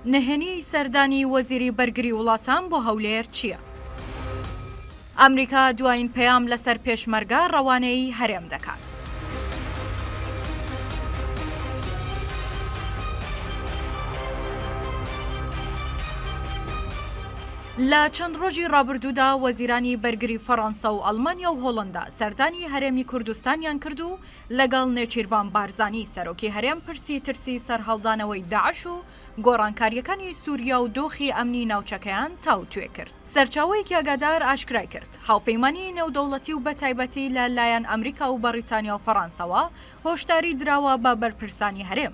نهێنیی سەردانی وەزیری بەرگری وڵاتان بۆ هەولێر چییە؟ ئەمریکا دوایین پەیام لەسەر پێشمەرگە ڕەوانەی هەرێم دەکات. لە چەند ڕۆژی ڕابردوودا وەزیرانی بەرگری فەڕانسە و ئەڵمانیا و هۆڵەندا سەردانی هەرێمی کوردستانیان کرد و لەگەڵ نێچیرڤان بارزانی سەرۆکی هەرێم پرسی ترسی سەرهەڵدانەوەی داعش و گۆڕانکارییەکانی سوریا و دۆخی ئەمنی ناوچەکەیان تاوتوێ کرد. سەرچاوەیەکی ئاگادار ئاشکرای کرد، هاوپەیمانیی نێودەوڵەتی و بەتایبەتی لە لایەن ئەمریکا و بەڕیتانیا و فەڕانسەوە هۆشداری دراوە بە بەرپرسانی هەرێم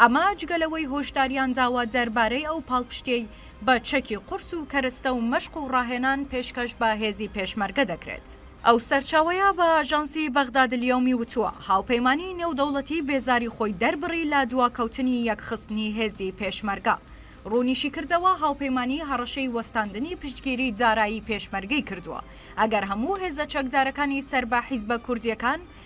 ئەمە جگە لەوەی هۆشداریان داوە دەربارەی ئەو پاڵپشتیەی بە چەکی قورس و کەرستە و مەشق و ڕاهێنان پێشکەش بە هێزی پێشمەرگە دەکرێت. ئەو سەرچاوەیە بە ئاژانسی بەغدادالیەومی وتووە، هاوپەیمانیی نێودەوڵەتی بێزاری خۆی دەربڕی لە دواکەوتنی یەکخستنی هێزی پێشمەرگە. ڕوونیشیکردەوە، هاوپەیمانی هەڕەشەی وەستاندنی پشتگیری دارایی پێشمەرگەی کردووە ئەگەر هەموو هێزە چەکدارەکانی سەر بە حیزبە کوردییەکان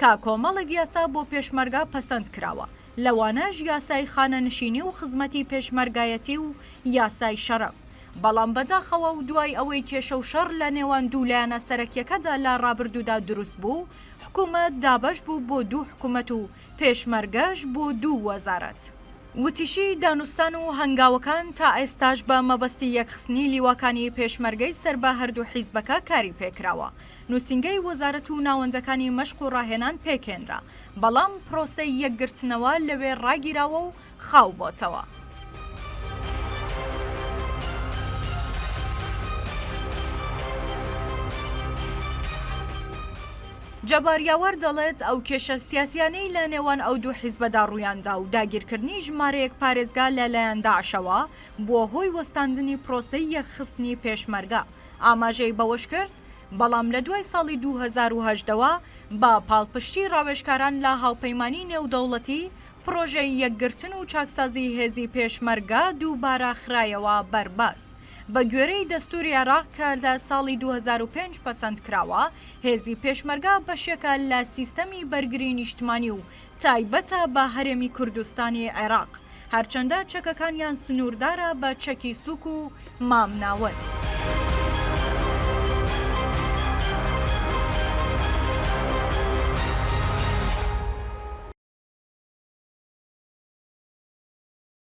کە کۆمەڵێک یاسا بۆ پێشمەرگە پەسەند کراوە، لەوانەش یاسای خانەنشینی و خزمەتی پێشمەرگایەتی و یاسای شەرەف، بەڵام بەداخەوە و دوای ئەوەی کێشە و شەڕ لە نێوان دوو لایەنە سەرەکیەکەدا لە ڕابردوودا دروست بوو، حکومەت دابەش بوو بۆ دوو حکومەت و پێشمەرگەش بۆ دوو وەزارەت. وتیشی، دانوستان و هەنگاوەکان تا ئێستاش بە مەبەستی یەکخستنی لیواکانی پێشمەرگەی سەر بە هەردوو حیزبەکە کاری پێکراوە، نوسینگەی وەزارەت و ناوەندەکانی مەشق و ڕاهێنان پێکهێنرا، بەڵام پرۆسەی یەکگرتنەوە لەوێ ڕاگیراوە و خاو بۆتەوە. جەبار یاوەر دەڵێت، ئەو کێشە سیاسیانەی لە نێوان ئەو دوو حیزبەدا ڕوویاندا و داگیرکردنی ژمارەیەک پارێزگا لە لایەن داعشەوە بووە هۆی وەستاندنی پرۆسەی یەکخستنی پێشمەرگە، ئاماژەی بەوەشکرد، بەڵام لە دوای ساڵی دوو هەزار و هەژدە وە بە پاڵپشتی ڕاوێژکاران لە هاوپەیمانی نێودەوڵەتی، پڕۆژەی یەکگرتن و چاکسازی هێزی پێشمەرگە دووبارە خرایەوە بەر باس. بە گوێرەی دەستوری عێراق کە لە ساڵی دوو هەزار و پێنج پەسەند کراوە، هێزی پێشمەرگە بەشێکە لە سیستەمی بەرگری نیشتمانی و تایبەتە بە هەرێمی کوردستانی عێراق، هەرچەندە چەکەکانیان سنووردارە بە چەکی سووک و مامناوەند.